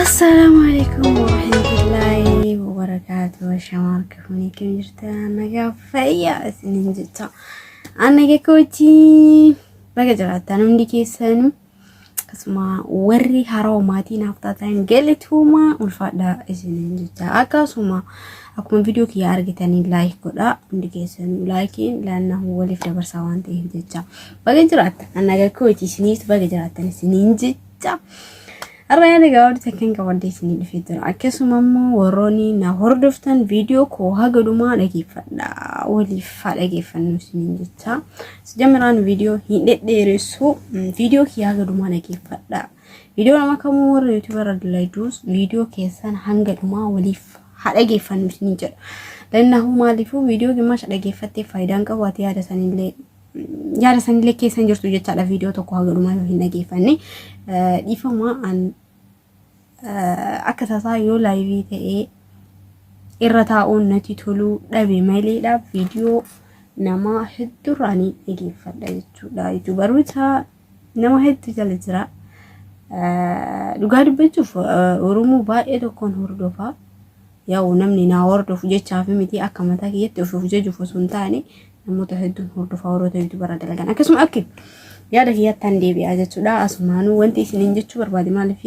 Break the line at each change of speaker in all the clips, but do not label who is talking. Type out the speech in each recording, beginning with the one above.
Assalaamu alaikum warahmatullaahi wabarakaatuh shamaa harka fuunee kan jirtan nagaa fayyaa isiniin jecha annaga kootii baga jiraattan hundi keessanuu Akkasuma warri harawa maatii naaf taatan galatooma ulfaadhaa isiniin jecha akkasuma akkuma viidiyoo kiyya argitanii laayik godhaa hundi keessan laayikiin laannaa waliif dabarsaa waan ta'eef jecha baga jiraattan annaga kooti isiniis baga jiraattan isiniin jecha. Har'a yaada gabaabduu takkeen qabadhee isinii dhufee jira. Akkasuma immoo warroonni na hordoftan viidiyoo koo haga dhumaa dhageeffadha. Waliif haa dhageeffannu isiniin jecha. Sijamiraan viidiyoo hin dhedheeressu. Viidiyoo kiyya haga dhumaa dhageeffadha. Viidiyoo nama kamuu warra yuutuubarra dalaydus viidiyoo keessan hanga dhumaa waliif haa dhageeffannu isiniin jedha. Lannahuu maaliifuu viidiyoo gimmaasha dhageeffattee faayidaan qabu ati yaada sanillee yaada sanillee keessa hin jirtu jechaadha viidiyoo tokko haga dhumaa yoo hin dhageeffanne dhiifama an akka tasaa yoo laayivii ta'ee irra taa'uun natti toluu dhabe maleedha viidiyoo namaa hedduurraanii dhageeffadha jechuudha. Yuutuubaroota Nama hedduu jala jira. Dhugaa dubbachuuf Oromoo baay'ee tokkoon hordofaa. Yaa'u namni naa hordofu jechaa fi miti akka mataa kiyyatti ofuuf jechuuf osoo hin taane namoota hedduun hordofaa warroota yuutubarra dalagan. Akkasuma akki yaada kiyyattaan deebi'aa jechuudha. Asumaanuu wanti isiniin jechuu barbaade maaliif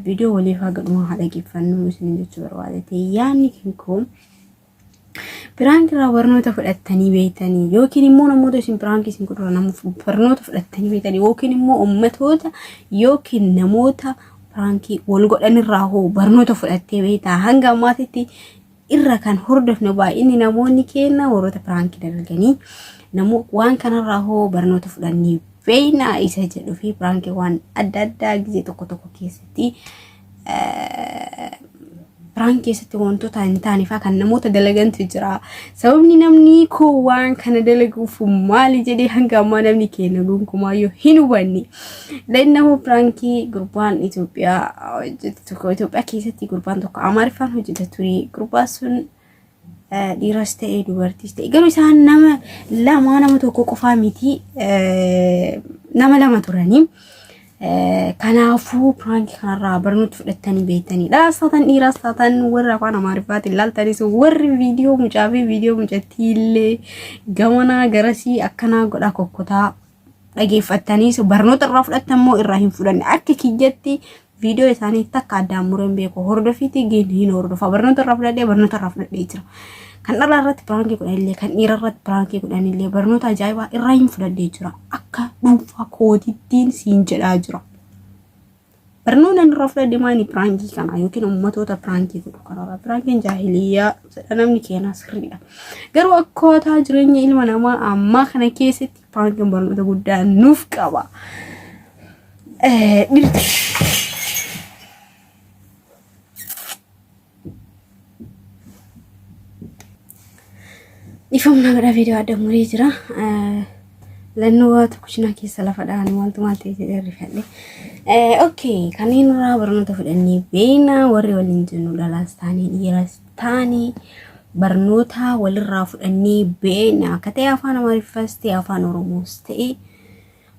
viidiyoo waliif haa gadhumaa haa dhageeffannu isiniin jechuu barbaade. Yaanni kun Piraank irraa barnoota fudhattanii beektanii yookiin immoo namoota isin piraank isin godhura namuuf barnoota fudhattanii beektanii yookiin immoo ummatoota yookiin namoota piraankii wal godhan irraa hoo barnoota fudhattee beektaa hanga ammaatitti irra kan hordofne baay'inni namoonni keenya warroota piraankii dalaganii namoo waan kanarraa hoo barnoota fudhannee beeknaa isa jedhuu fi piraankii waan adda addaa gisee tokko tokko keessatti Piraankii keessatti wantoota hin taane fa'aa kan namoota dalagantu jira. Sababni namni koo waan kana dalaguuf maali jedhee hanga ammaa namni keenya gonkumaayyuu hin hubanne. Lannahuu piraankii gurbaan Itoophiyaa hojjetu tokko Itoophiyaa keessatti gurbaan tokko Amaariffaan hojjeta ture. Gurbaan sun dhiiras ta'e dubartiis ta'e garuu isaan nama lamaa nama tokko qofaa miti nama lama turanii. Kanaafuu piraankii kanarraa barnoota fudhattanii beektaniidha. Saataan dhiiraa saataan warra afaan amaariffaatiin laaltanis warri viidiyoo mucaa fi viidiyoo mucattii illee gamanaa garasii akkanaa godhaa kokkotaa dhageeffattaniis barnoota irraa fudhattan moo irraa hin fudhanne akka kiyyatti viidiyoo isaanii takka addaan mureen beeku hordofiitii geenye hin hordofa barnoota irraa fudhadhee barnoota irraa fudhadhee jira. Kan dhalaa irratti piraankii godhan illee kan dhiira irratti piraankii godhan illee barnoota ajaa'ibaa irraa hin fudhadhee jira akka dhuunfaa kootittiin siin jedhaa jira. Barnoonni ani irraa fudhadhe maani piraankii kana yookiin ummatoota piraankii godhu kanarraa piraankiin jaahiliyyaa jedha namni keenaa sirriidha. Garuu akkaataa jireenya ilma namaa ammaa kana keessatti piraankiin barnoota guddaa nuuf qaba. Eh, dhirti. Dhiifamna gara viidiyoo adda muree jira. Lannoo waatu kushinaa keessa lafa dha'an wantu maal ta'e jedhee rifadhe. Okay, kanneen irraa barnoota fudhannee beekna warri waliin jennu dhalaas taane dhiiras taane barnoota walirraa fudhannee beekna akka ta'e afaan Amaariffas ta'e afaan Oromoos ta'e.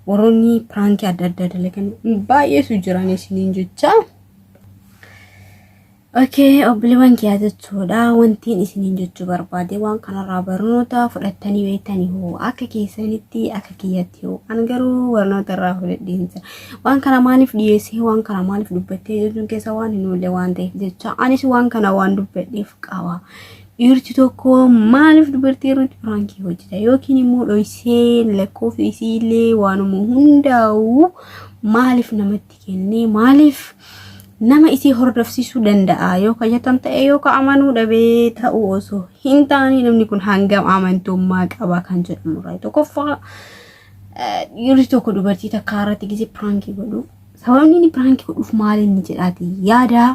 Warroonni piraankii adda addaa dalagan baay'eetu jiran isiniin jecha. Okee obboleewwan kiyyaa jechuudha wantiin isiniin jechuu barbaade waan kanarraa barnoota fudhattanii beektanii hoo akka keessanitti akka kiyyatti hoo an garuu barnoota irraa fudhadheen jira waan kana maaliif dhiyeessee waan kana maaliif dubbattee jechuun keessa waan hin oolle waan ta'eef jecha anis waan kana waan dubbadheef qaba Dhiirti tokko maaliif dubartii irratti piraankii hojjeta yookiin immoo dhoysee lakkoofsa isiillee waanuma hundaa'u maaliif namatti kennee maaliif nama isii hordofsiisuu danda'a yoo ka jetan ta'e yoo ka amanuu dhabee ta'uu osoo hin taane namni kun hangam amantummaa qaba kan jedhamu irraa tokkoffaa Dhiirri tokko dubartii takkaa irratti gisee piraankii godhu. Sababni inni piraankii godhuuf maal inni jedhaati yaada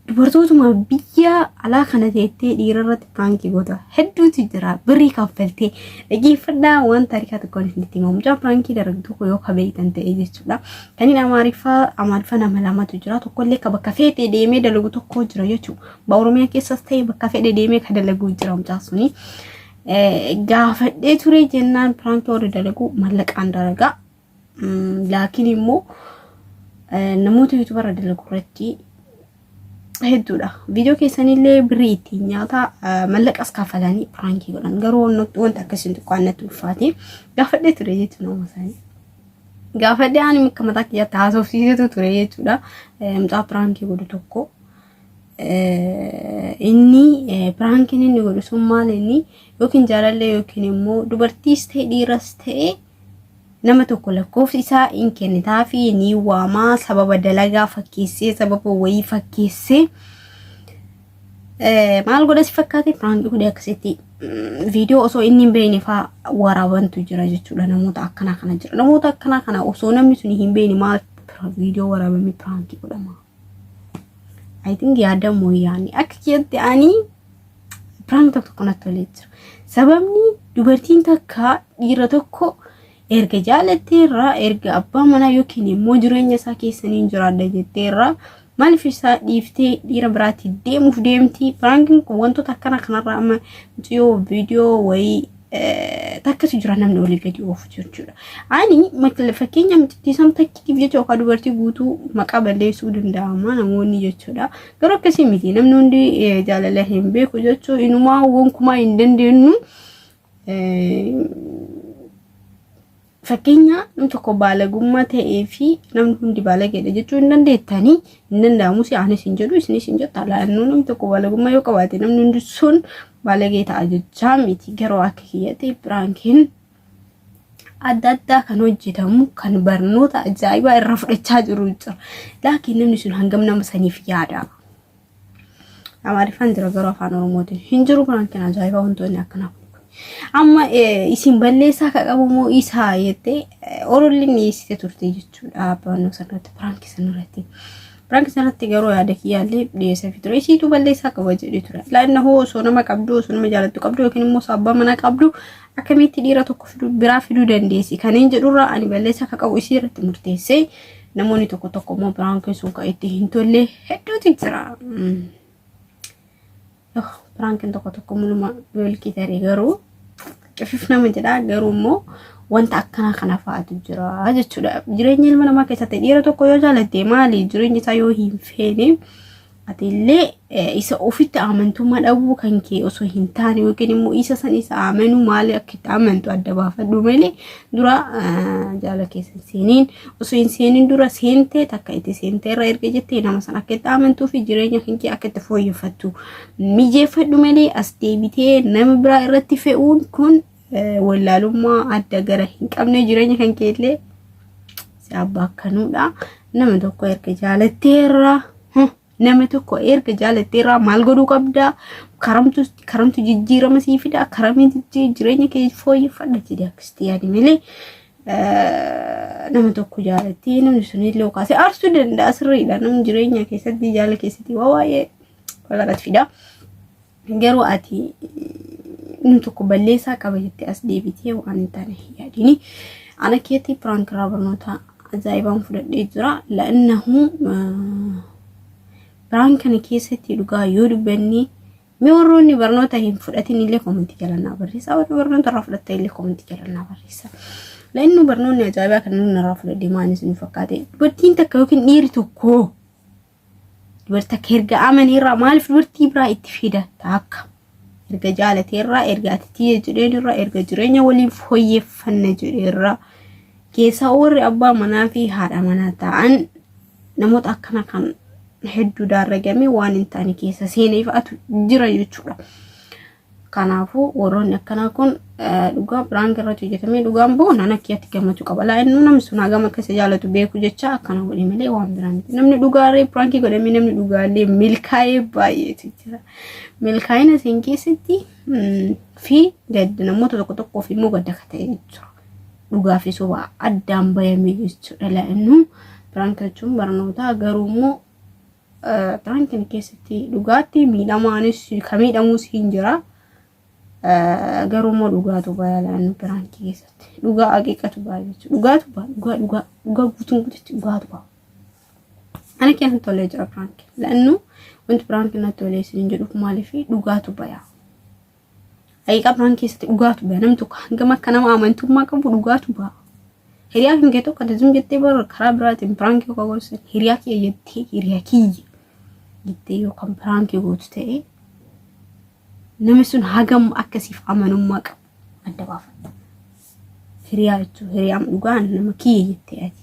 dubartootuma biyya alaa kana teettee dhiira irratti piraankii goota hedduutu jira birrii kaffaltee dhaggeeffadhaa waan taarikaa tokkoon isinitti himamu mucaa piraankii darbe tokko yoo kabeeytan ta'e jechuudha kaniin amaariffaa amaariffaa nama lamatu jira tokkollee ka bakka feete deemee dalagu tokko jira jechuudha ba oromiyaa keessas ta'e bakka fedhe deemee ka dalaguu jira mucaa suni. gaafadhee ture jennaan piraankii warri dalagu mallaqaan dalagaa laakiin immoo namoota yuutubarra dalagu irratti hedduudha. Viidiyoo keessanillee birrii ittiin nyaata mallaqas kaffalanii piraankii godhan garuu wanta akkasiin tokko annatti ulfaate gaafadhee ture jechuudha nama isaanii. Gaafadhee ani akka mataa kiyyaatti haasofsiisetu ture jechuudha. Mucaa piraankii godhu tokko. inni piraankiin inni godhu sun maal inni yookiin jaalallee yookiin immoo dubartiis ta'e dhiiras ta'e nama tokko lakkoofsi isaa hin kennitaa fi ni waamaa sababa dalagaa fakkeessee sababa wayii fakkeessee maal godha si fakkaate piraanki godhe akkasitti viidiyoo osoo inni hin beekne faa waraabantu jira jechuudha namoota akkanaa kana jira namoota akkanaa kana osoo namni sun hin beekne maal viidiyoo waraabamee piraanki godhama. I think yaada mooyaanii akka keessatti ani piraank tokko tokko natti tolee jira. Sababni dubartiin takka dhiira tokko erga jaalattee irraa erga abbaa manaa yookiin immoo jireenya isaa keessaniin jiraadha jettee irraa maaliif isaa dhiiftee dhiira biraatti deemuuf deemti. Piraankiin kun wantoota akkana kanarraa amma mucayyoo viidiyoo wayii takkatu jira namni olii gadi oofu jechuudha. Ani fakkeenya micittiisaan takkitiif jecha yookaan dubartii guutuu maqaa balleessuu danda'ama namoonni jechuudha. Garuu akkasii miti namni hundi jaalala hin beeku jechuun inumaa gonkumaa hin dandeenyu. Fakkeenya namni tokko baalagummaa ta'ee fi namni hundi baalageedha jechuu hin dandeettanii hin danda'amus anis hin jedhu isinis hin jettu alaannoo namni tokko baalagummaa yoo qabaate namni hundi sun baalagee ta'a jechaa miti garuu akka kiyyatti piraankiin adda addaa kan hojjetamu kan barnoota ajaa'ibaa irraa fudhachaa jiru jira laakiin namni sun hangam nama saniif yaada. Amaariffaan jira garuu afaan Oromootiin hin jiru kanaan kan ajaa'ibaa wantoonni akkanaa kun. Amma eh, isin balleessaa ka qabu moo isaa jettee eh, orolli dhiyeessite turte jechuudha barannoo sanarratti piraankii sanarratti. Piraankii sanarratti garuu yaada kiyyaallee dhiyeesseefi ture. Isiitu balleessaa qaba jedhee ture. Laanna hoo osoo nama qabdu osoo nama jaalattu qabdu yookiin immoo osoo abbaa manaa qabdu akkamitti dhiira tokko fiduu- biraa fiduu dandeessi. Kanneen jedhurraa ani balleessaa ka qabu isii irratti murteessee Namoonni tokko tokko immoo piraankiin sun kan itti hin tolle hedduutu jira. Piraankiin tokko tokko muluma beelkii tarii garuu cifif nama jedha garuu immoo wanta akkanaa kana fa'aatu jira jechuudha. Jireenya ilma namaa keessatti dhiira tokko yoo jaalatte maali jireenya isaa yoo hin feene Ati illee isa ofitti amantummaa dhabuu kan kee osoo hin taane yookiin immoo isa san isa amanuu maali akka itti amantu adda baafadhu malee dura jaala keessa seeniin osoo hin seeniin dura seentee takka itti seentee irra erga jettee nama san akka itti amantuu fi jireenya kan kee akka itti fooyyeffattu mijeeffadhu malee as deebitee nama biraa irratti fe'uun kun wallaalummaa adda gara hin qabne jireenya kan keellee si abbaa akkanuudha nama tokko erga jaalatteerra nama tokko erga jaalatteerra maal godhuu qabda karamtu karamtu jijjiirama sii fida karamitti jireenya kee fooyyeffadha jedhe akkasitti yaadi malee nama tokko jaalattee namni sun illee kaasee aarsuu danda'a sirriidha namni jireenya keessatti jaala keessatti waa waa'ee walirratti fida. Garuu ati inni tokko balleessaa qaba jettee as deebitee waan hin taane hin yaadini. Ana keetti piraank irraa barnoota ajaa'ibaan fudhadhee jira. La'annahu piraank kana keessatti dhugaa yoo dubbanne mee warroonni barnoota hin fudhatin illee koomentii jalannaa barreessaa warri barnoota irraa fudhatta illee koomentii jalannaa barreessaa. La'annu barnoonni ajaa'ibaa kan inni irraa fudhadhe maal isin fakkaate dubartiin takka yookiin dhiirri tokko dubartii akka erga amanii irraa maaliif dubartii biraa itti fida taakka erga jaalatee irraa erga ati tiyya jedheen irraa erga jireenya waliin fooyyeffanna jedhee irraa keessaa warri abbaa manaa fi haadha manaa ta'an namoota akkana kan hedduu daarragamee waan hin taane keessa seeneef atu jira jechuudha. Kanaafuu warroonni akkanaa kun dhugaa piraank irratti hojjetamee dhugaan bahu naan akka itti gammachuu qaba. Laa inni namni sun hagam akka isa jaalatu beeku jecha akkana godhe malee waan biraa miti. Namni dhugaalee piraankii godhamee namni dhugaalee milkaa'ee baay'eetu jira. Milkaa'ina isin keessatti fi gadda namoota tokko tokkoof immoo gadda akka ta'e jechuudha. Dhugaa fi sobaa addaan bayamee jechuudha. Laa inni piraank jechuun barnootaa garuu immoo Piraank kana keessatti dhugaatti miidhamaanis ka miidhamuus hin jira. Garuu immoo dhugaatu bayaa laannu piraankii keessatti. Dhugaa aqiiqatu baaya jechuudha. Dhugaatu baaya dhugaa dhugaa dhugaa guutuun guututti dhugaatu baaya. Ani keessa tolee jira piraanki. Laannu wanti piraanki natti tolee isin jedhuuf maaliif dhugaatu bayaa. Haqiiqaa biraan keessatti dhugaatu ba'a. Namni tokko hangam akka nama amantummaa qabu dhugaatu ba'a. Hiriyaa kan kee tokko ati zim jettee bara karaa biraatiin biraankii yookaan gorsan hiriyaa kiyya jettee hiriyaa kiyya jettee yookaan biraankii gootu ta'ee namni sun hagam akkasiif amanummaa qabu adda baafadha. Hiriyaa jechuun hiriyaan dhugaan nama kiyya jettee ati.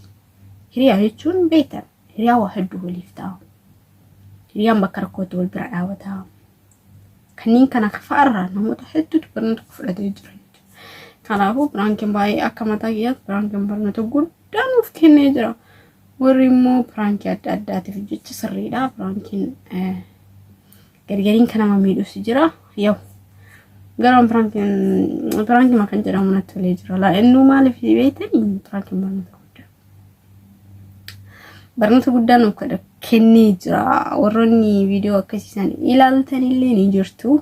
Hiriyaa jechuun beektan hiriyaa waa hedduu waliif ta'a. Hiriyaan bakka rakkootti wal bira dhaabataa. Kanneen kana fa'arraa namoota hedduutu barnoota fudhatee jira. Kanaafuu piraankiin baay'ee akka mataa kiyyaatti piraankiin barnoota guddaa nuuf kennee jira. Warri immoo piraankii adda addaatiif jecha sirriidha. Piraankiin gargariin kan nama miidhus jira. Yoo garaan piraankiin kan jedhamu natti tolee jira. Laa'ennuu maaliif beektanii piraankiin barnoota guddaa. barnoota guddaa nuuf kadha- kennee jira warroonni viidiyoo akkasiisan ilaaltan illee ni jirtu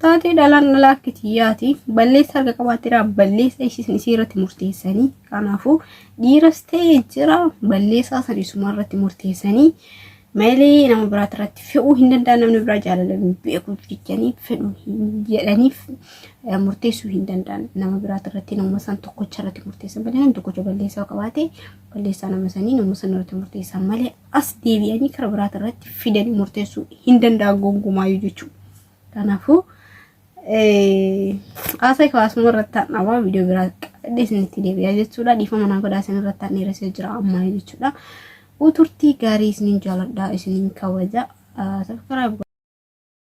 taatee dhalaan dhalaa akka tiyyaati balleessa harka qabaatteera balleessa isiisan isii irratti murteessanii kanaafuu dhiiras ta'e jira balleessaa san isuma irratti murteessanii Malee nama biraa irratti fe'uu hin danda'an namni biraa jaalala beekuuf jechanii fedhu jedhaniif murteessuu hin danda'an nama biraa irratti nama san tokkocha irratti murteessan malee namni tokkocha balleessaa qabaate balleessaa nama sanii nama san irratti murteessan malee as deebi'anii kara biraa irratti fidanii murteessuu hin danda'an gongumaa jechuudha. Kanaafuu haasa'e kawaasuma irratti aan dhabaa viidiyoo biraa qabadhe isinitti deebi'aa jechuudha. Dhiifama naa godhaa isin irratti aan dheeressee jira ammaa jechuudha. Uturtii gaarii isinin jaaladha isinin kabaja. Sabskiraayib